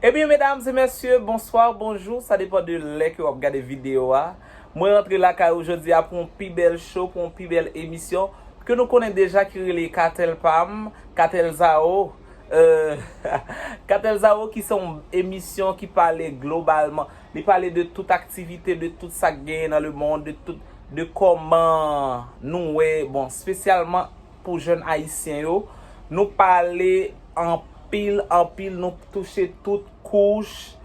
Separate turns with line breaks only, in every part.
Ebyen medam e mesye bonswa ou bonjou sa depan de lè ke wap gade video a mwen rantre lakay ou jodi a pou yon pi bèl show pou yon pi bèl emisyon ke nou konnen deja ki rele katèl pam katèl zao euh katèl zao ki se yon emisyon ki pale globalman Li pale de tout aktivite, de tout sa k genyen nan lemond, de tout, de kòman nou wè, bon, spesyalman pou jèn ayisyen yo, nou pale anpil, anpil, nou touche tout kouch,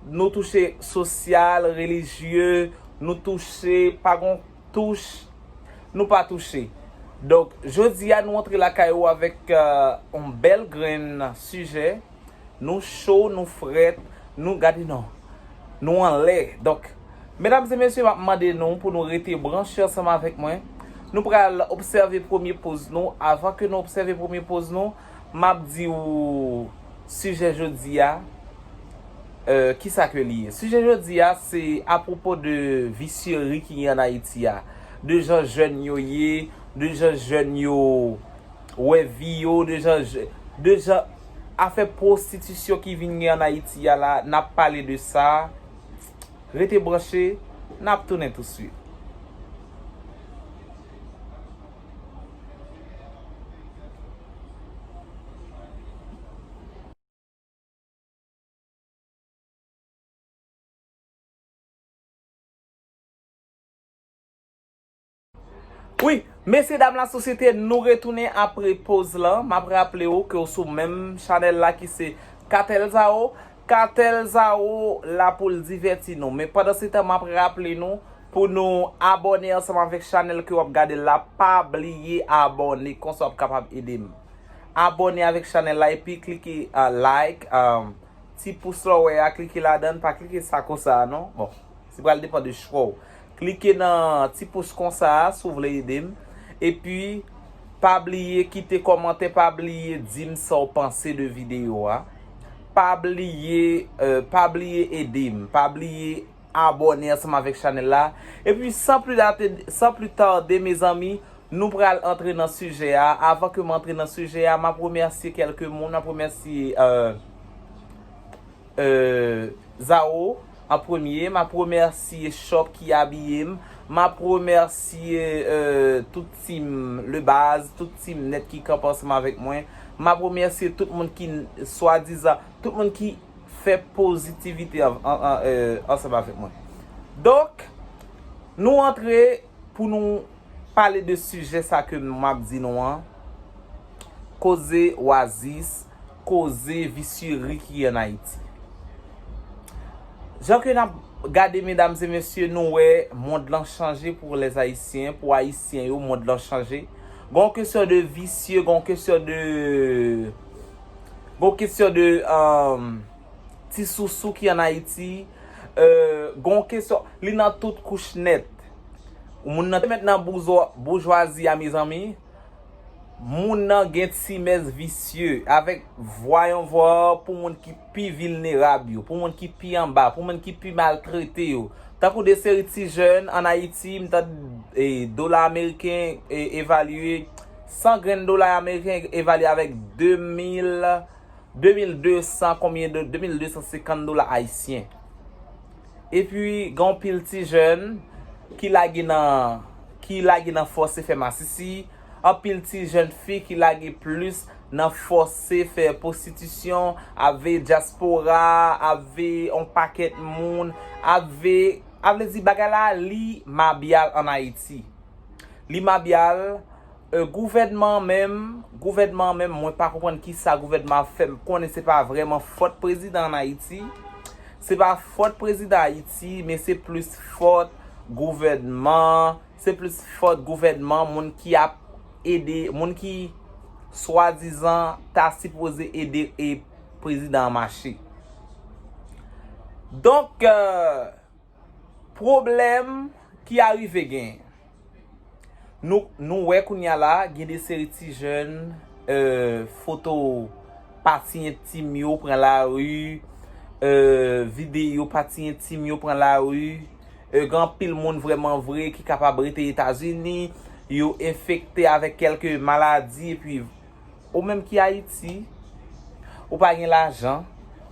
nou touche sosyal, relijye, nou touche, pa gon touch nou pa touche. Donk, jodi a nou antre lakay ou avèk yon bèl grenn sijè. Nou cho, nou frèt, nou gade non. Nou anlè. Donk, medam e mesye map mande nou pou nou rete branche ansanm avèk mwen. Nou pral obsève premye poz nou. Avan ke nou obsève premye poz nou, map di ou sijè jodi a, ki sa ke li ye. Sijè jodi a, se a pwopo de visyeri ki gen an Ayiti a. De jan jèn yo ye, de jan jèn yo. Wè vi yo de jan de jan afè prostitisyon ki vin gen an ayiti a la nap pale de sa rete branche nap tounen tou swit. Wi, mesye dam la sosyete nou retounen apre poz lan, map raple ou ke ou sou menm chanèl la ki se Katèl Zaro, Katèl Zaro la poul divèti nou, men pandan se tan map raple nou pou nou abòne ansanm avèk chanèl ke wap gadel la, pa bliye abòne konsa wap kapab edem abòne avèk chanèl la epi klike like ti pous la ou wè a klike ladann, pa klike sa konsa a non, bon se pral depan de chwa ou. Klike nan ti pous konsa a si w vle ede m. Epi pa bliye kite kòmantè pa bliye di m sa w panse de videyo a. Pa bliye pa bliye ede m. Pa bliye abòne ansanm avèk chanèl la. Epi san pli date san pli tarde mezanmi nou pral antre nan sijè a. Avan ke m antre nan sijè a m ap remèsye kèlke moun. M ap remèsye. Euh Zao an premye map remèsye shop ki abiye m map remèsye euh tout team le baz tout team net ki kanpe ansanm avèk mwen map remèsye tout moun ki swadizan tout moun ki fè pozitivite ansanm avèk mwen donk nou antre pou nou pale de sijè sa ke map di nou an koze wazis koze visyeri ki an Ayiti. Jan ke nap gade medam e mesye nou wè mond lan chanje pou les Haïtiens, pou Ayisyen yo mond lan chanje. Gen yon kesyon de visye, gen yon kesyon de, gen yon kesyon de ti sousou ki an Ayiti, gen yon kesyon, li nan tout kouch nèt. Moun nan te mèt nan boujwazi a mezanmi. Moun nan gen ti mès visye, avèk vwa yon vòlò pou moun ki pi vilnerab yo, pou moun ki pi anba, pou moun ki pi maltrete yo. Tankou de seri ti jèn an Ayiti, m tand dola ameriken evalye, 100 grenn dola ameriken evalye avèk 2 mil, 2 mil 200 konbyen, 2 mil 250 dola ayisyen. Epi gen yon pil ti jèn ki lage nan ki lage nan fòse fè masisi, anpil ti jèn fi ki lage plis nan fòse fè pwostitisyon, ave dyaspora, ave yon pakèt moun, ave, a vle di bagay la li mabyal an Ayiti. Li mabyal. Euh gouvènman an menm, gouvènman an menm mwen pa konprann kisa gouvènman ap fè m konnen se pa vrèman fòt prezidan an Ayiti, se pa fòt prezidan Ayiti men se plis fòt gouvènman, se plis fòt gouvènman moun ki ap ede, moun ki swadizan ta sipoze ede e prezidan an mache. Donk euh. Pwoblèm ki arive gen. Nou wè kounya la gen de seri ti jèn foto pati entim yo pran lari, videyo pati entim yo pran lari, gen anpil moun vrèman vre ki kapab rete Etazini, yo enfekte avèk kèlke maladi epi. Ou menm ki Ayiti, ou pa gen lajan,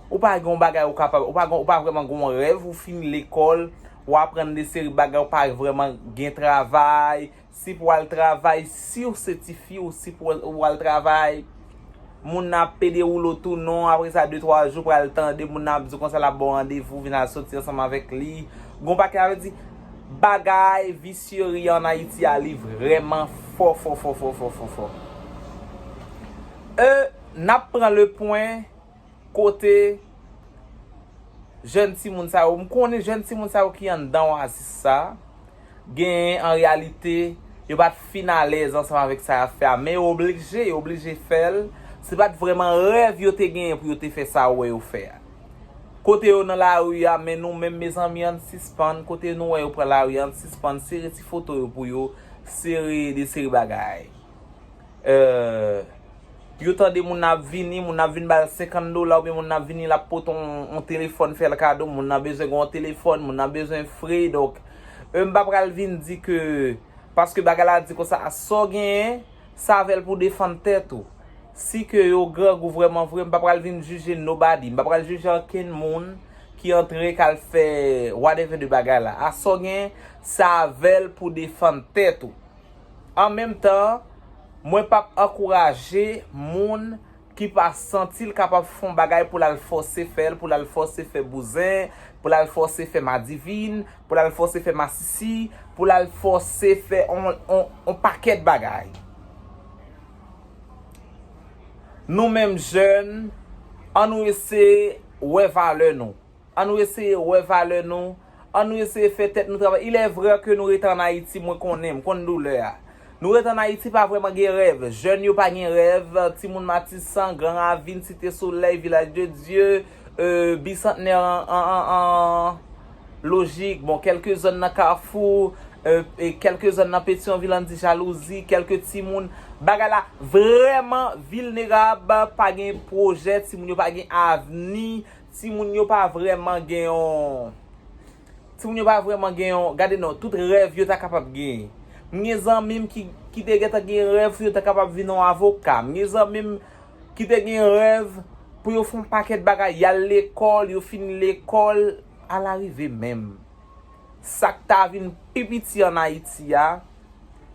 ou pa gen yon bagay ou kapab, ou pa gen, ou pa vrèman gen yon rèv, ou fin lekòl, ou aprann de seri bagay, ou pa vrèman gen travay, si pou al travay, siw se ti fi ou si pou ou al travay, moun nan ap pede ou lo tou non, apre sa de twa jou pral tande moun nan ap di w konsa l ap ba w randevou vin al soti ansanm avèk li, gen yon pakèt avèk di, Bagay visyerie an Ayiti a li vrèman fò fò fò fò fò fò fò euh nap pran le pwen kote jèn timoun sa yo m konnen jèn timoun sa yo ki anndan oasis sa genyen an reyalite yo pat fin alèz ansanm avèk sa yap fè a men yo oblije yo oblije fèl se pat vrèman rèv yo te genyen pou yo te fè sa ou wè yo fè a. Kote yo nan lari a men nou menm mezanmi ann sispann kote nou wè yo pran lari a ann sispann sere ti foto yo pou yo sere de seri bagay euh yo tande moun nan ap vini moun nan ap vin bal 50 dola oubyen moun nan ap vini lap pote yon telefòn fèl kado moun nan bezwen gen yon telefòn moun nan bezwen fre donk euh m pa pral vin di ke paske bagay la di konsa a sa w genyen. Savel pou defann tèt ou. Si ke yo grangou vrèman vre m pa pral vin jije nobody, m pa pral jije ankenn moun ki antre kal fè whatever de bagay la. A sa w gen Savel pou defann tèt ou. An menm tan, mwen pap ankouraje moun ki pa santi l kapab fè yon bagay pou l al fòse fè l, pou l al fòse fè bouzen, pou l al fòse fè madivin, pou l al fòse fè masisi, pou l al fòse fè yon pakèt bagay. Nou menm jèn, an nou eseye wè valè nou. An nou eseye wè valè nou, an nou eseye fè tèt nou travay. Il est vrai que nou rete an Ayiti, mwen konnen, m konn doulè a. Nou rete an Ayiti pa vrèman gen rèv. Jèn yo pa gen rèv, timoun Matisan, Gran Ravin, Site Solèy, Vilaj de Dye, e Bisantnè an lojik, bon kèlke zòn nan Kafou, e kèlke zòn nan Petyonvil an di jalouzi, kèlke timoun. Bagay la vrèman vilnerab, pa gen pwojè, timoun yo pa gen avni, Timoun yo pa vrèman gen yon Timoun yo pa vrèman gen yon Gade non, tout rèv yo ta kapab genyen M gen zanmi m ki ki te gentan gen rèv pou yo ta kapab vin yon avoka M gen zanmi m ki te gen rèv pou yo fè yon pakèt bagay Y al lekòl, yo fini lekòl Ala rive menm Sa k ta vin pi piti ann Ayiti a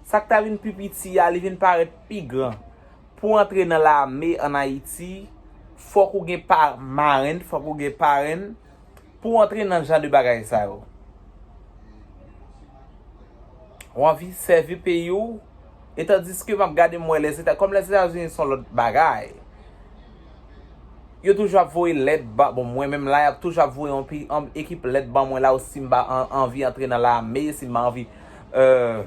Sa k ta vin pi piti a li vin parèt pi gran Pou antre nan lame an Ayiti, fòk ou gen pa marenn, fòk ou gen parenn, pou antre nan jan de bagay sa yo. Ou anvi sèvi peyi ou, e tandiske m ap gade m wè Lèzeta, kòm Lèzetazini s on lòt bagay, yo toujou ap voye lèt ba, bon mwen menm la y ap toujou ap voye yon pi, yon ekip lèt ban mwen la ou si m ba anvi antre nan lame, si m ba anvi, èè.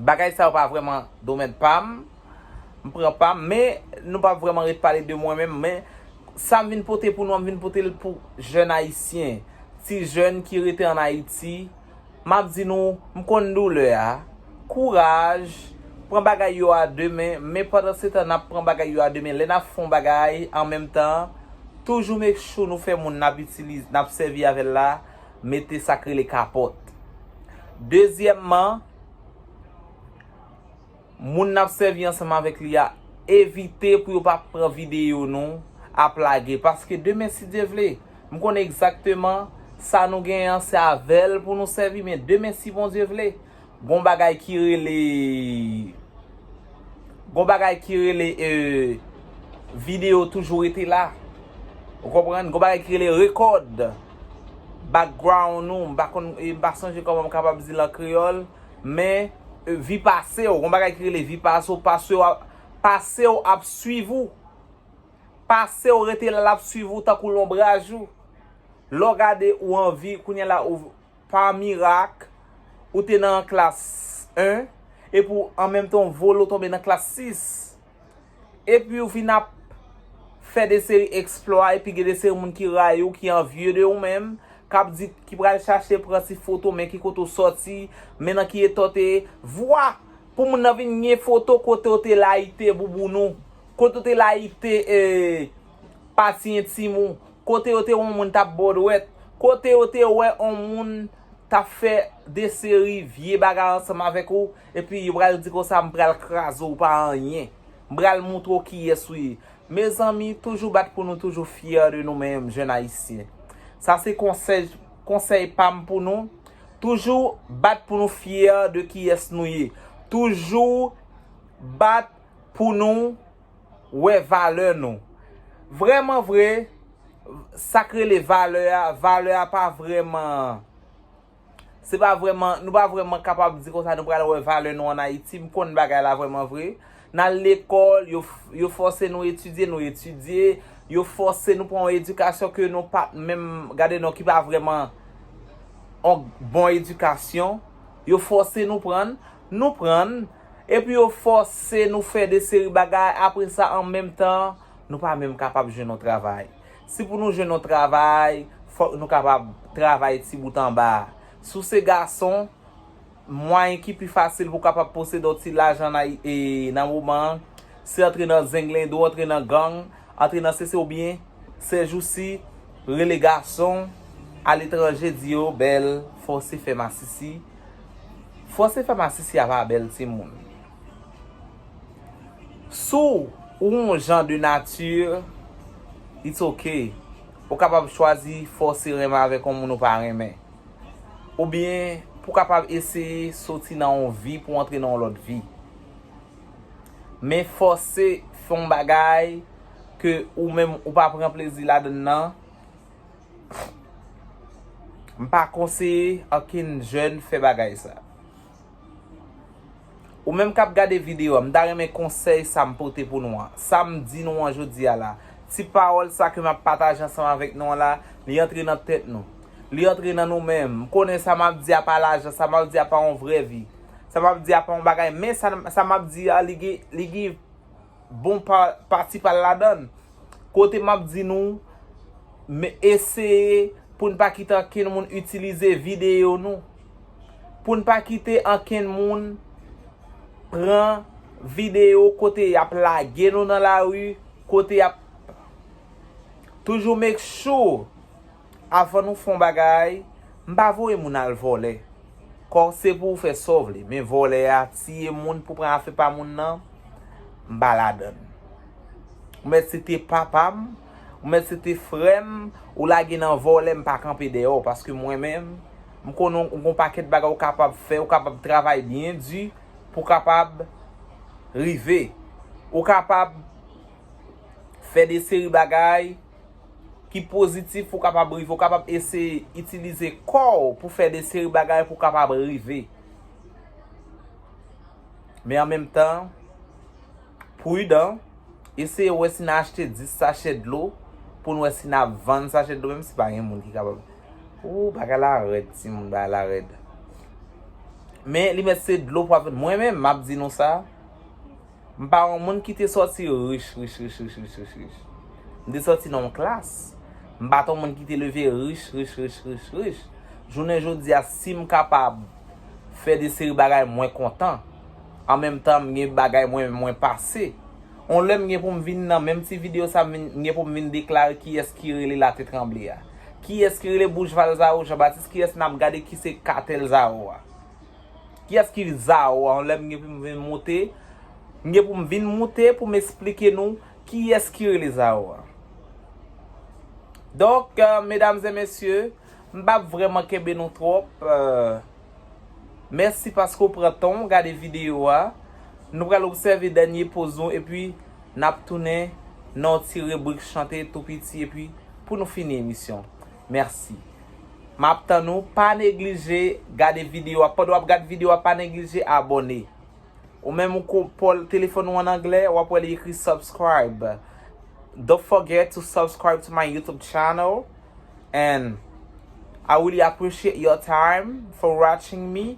Bagay sa yo pa vrèman domèn pa m. M pran pa m. Men, nou pa vrèman ret pale de mwen menm. Men, sa m vin pote pou nou an, m vin pote l pou jèn Ayisyen. Ti jèn ki rete an Ayiti. M ap di nou, m konn doulè a. Kouraj. Pran bagay yo a de men. Men pandansetan, n ap pran bagay yo a de men. Lè n ap fè yon bagay, an menm tan, toujou make sure nou fè moun n ap itilize, n ap sèvi avè l la. mete sak rele kapòt. Dezyèmman, moun nap sèvi ansanm avèk li a, evite pou yo pa pran videyo nou ap lage. Paske demen si Dye vle, m konnen egzakteman sa nou genyen an se avèl pou nou sèvi men demen si Bondye vle. Gon bagay ki rele Gon bagay ki rele euh video toujou rete la ou konprann gon bagay ki rele record background ou m pa konn m pa sonje kòman m kapab di l an kreyòl men vi pase w gon bagay ki rele vi pase w pase w pase w ap swiv ou pase w rete la l ap swiv ou tankou lonbraj ou lè w gade ou anvi kounye la ou pa mirak, ou te nan klas 1, epi w an menm tan w vole w tonbe nan klas 6. Epi w vin ap fè de seri eksplwa, epi gen de seri moun ki rayi w, ki anvye de ou menm, k ap di, ki pral chache pran ti foto, men ki kote w sòti, men nan ki eta w te ye. Vwa! Pou moun nan vin gen foto kote w te layite bouboun ou, kote w te layite e. Pati entim ou, kote yo te wè yon moun tap bo dwèt, kote yo te wè yon moun tap fè de seri vye bagay ansanm avèk ou, epi yo pral di konsa m pral kraze w pa anyen. M pral moutre w kiyès ou ye. Mezanmi, toujou bat pou nou toujou fyè de nou menm jèn ayisyen. Sa se konsèj, konsèy pa m pou nou, toujou bat pou nou fyè de kiyès nou ye. Toujou bat pou nou. wè valè nou. Vrèman vre, sa k rele valè a, valè a pa vrèman, se pa vrèman, nou pa vrèman kapab di konsa nou pral wè valè nou an Ayiti, m konn bagay la vrèman vre. N al lekòl, yo fòse nou etidye, nou etidye, yo fòse nou pran yon edikasyon ke nou pa t menm, gade non, ki pa vrèman yon bon edikasyon, yo fòse nou pran. Nou prann, epi yo fòse nou fè de seri bagay, apre sa an menm tan, nou pa menm kapab jwenn yon travay. Si pou nou jwenn yon travay, fòk nou kapab travay ti bout anba. Si w se gason, mwayen ki pi fasil pou w kapab posede yon ti lajan nan moman an, se antre nan zenglendo, antre nan gang, antre nan sesi oubyen, sèjousi, rele gason aletranje di yo bèl, fòse fè masisi. Fòse fè masisi a pa bèl timoun. Si w yon jan de nati, it's ok. Ou kapab chwazi fòse renmen avèk yon moun ou pa renmen. Oubyen pou w kapab eseye soti nan yon vi pou w antre nan yon lòt vi. Men fòse fè yon bagay ke ou menm ou pa pran plezi ladann nan. M pa konseye okenn jèn fè bagay sa. Ou menm k ap gade videyo an, m ta renmen konsèy sa m pote pou nou an, sa m di nou an jodi a la, ti pawòl sa ke m ap pataje ansanm avèk nou an la, li antre nan tèt nou. Li antre nan nou menm. M konnen sa m ap di a pa lajan, sa m ap di a pa yon vrè vi. Sa m ap di a pa yon bagay men sa m ap di a li gen, li gen. bon pati pa l ladann. Kote m ap di nou, m eseye pou n pa kite ankenn moun itilize videyo nou. Pou n pa kite ankenn moun pran videyo kote y ap lage nou nan lari, kote y ap toujou make sure. Avan nou fon bagay, m pa voye moun al vòlè. Kò se pou ou fè sa w vle, men vòlè a, tiye moun pou pran afe pa moun nan, m pa ladann. Ou mèt se te papa m, ou mèt se te frè m, ou lage nan vòlè m pa kanpe dèyè w paske mwen menm, m konnen ou gon pakèt bagay ou kapab fè, ou kapab travay byen di pou kapab rive. Ou kapab fè de seri bagay. ki pozitif pou kapab rive. Ou kapab eseye itilize kò ou pou fè de seri bagay pou kapab rive. Men an menm tan, prudan, eseye wè si nan achte 10 sachè dlo pou nou wè si nan vann sachè dlo menm si pa gen moun ki kapab. Ooh bagay la rèd ti moun bagay la rèd. Men li mèt se dlo pou ap vann. Mwen menm map di nou sa. M pa yon moun ki te sòti rich rich rich rich rich rich rich. M te sòti nan yon klas. M pa t yon moun ki te leve rich rich rich rich rich. Jounen jodi a, si m kapab fè de seri bagay mwen kontan. An menm tan m gen bagay mwen menm mwen pase. Yon lè m gen pou m vin nan menm ti videyo sa m gen pou m vin deklare kiyès ki rele Latetranble a. Kiyès ki rele Bouch Valzaro Janbatis kiyès n ap gade ki se katèl Zaro a. Kiyès ki Zao an lèm gen poum vin moute m gen poum vin moute poum esplike nou kiyès ki rele Zao an donk medam zè mesye m pap vrèman kenbe nou twòp mèsi paske w pran tan w gade video a nou pral obsève dènye poz nou epi nap tounen nan yon ti ribrik chante tou piti epi pou nou fini emisyon mèsi. Map tann ou pa neglije gade video a pandan wap gad video a pa neglije abòne ou menm ou ko pòl telefòn ou an anglè wap wè li ekri subscribe don't forget to subscribe to my youtube channel and I really appreciate your time for watching me.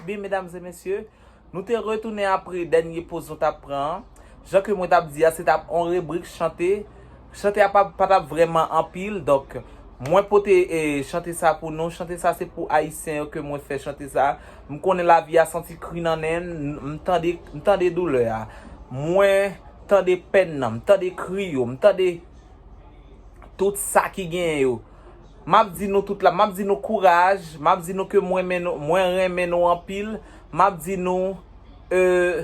Ebyen medam e mesye, nou te retounen apre dènye poz nou tap pran an. Jan ke mwen tap di a se tap on rebrik chante. Chante a pa tap vreman anpil. Donk mwen pote chante sa pou nou. Chante sa se pou ayisyen yo ke mwen fè chante sa. M konnen lavi a santi kri nan nen n. M tande, m tande doulè a. Mwen tande pèn nan. M tande kri yo. M tande tout sa ki genyen yo. Map di nou tout la, map di nou kouraj, map di nou ke mwen mwen renmen nou anpil, map di nou euh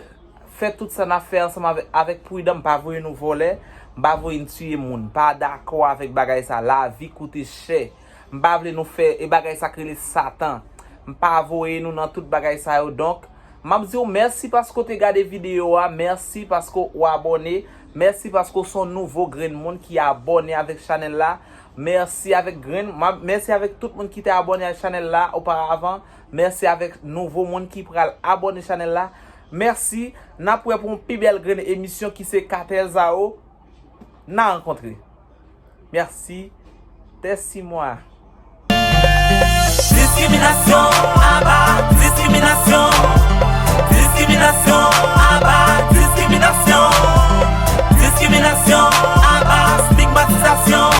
fè tout sa nap fè ansanm avèk avèk prudan m pa voye nou vòlè, m pa voye n tiye moun, m pa dakò avèk bagay sa, lavi koute chè, m pa vle nou fè e bagay sa k rele satan, m pa voye nou nan tout bagay sa yo donk map di w mèsi paske w te gade videyo a, mèsi paske w abòne, mèsi paske w son nouvo grenn moun ki abòne avèk chanèl la. Mèsi avèk grenn Mèsi avèk tout moun ki te abòne a chanèl la oparavan Mèsi avèk nouvo moun ki pral abòne chanèl la Mèsi Nap prè pou yon pi bèl grenn emisyon ki se Katèl Zao Nan rankontre Mèsi Tèsi mwa. Diskriminasyon
Aba diskriminasyon Diskriminasyon Aba diskriminasyon Diskriminasyon Aba stigmatizasyon.